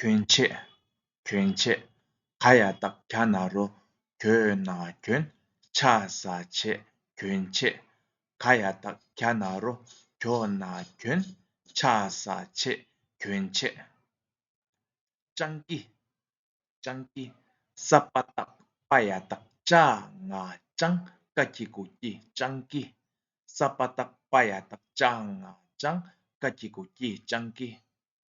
གྱོན་ཆས། གྱོན་ཆས། ག་ཡ་སྟག་གྱ་ན་རོ། གྱོ་ན་གྱོན། ཆ་ས་ཆས། གྱོན་ཆས། ག་ཡ་སྟག་གྱ་ན་རོ། གྱོ་ན་གྱོན། ཆ་ས་ཆས། གྱོན་ཆས། སྤྱང་ཀི། སྤྱང་ཀི། ས་པ་སྟག་པ་ཡ་སྟག་ཅག་ང་སྤྱང་ཀ་ཁྱི་གུ་ཀྱི་སྤྱང་ཀི། ས་པ་སྟག་པ་ཡ་སྟག་ཅག་ང་སྤྱང་ཀ་ཁྱི་གུ་ཀྱི་སྤྱང་ཀི།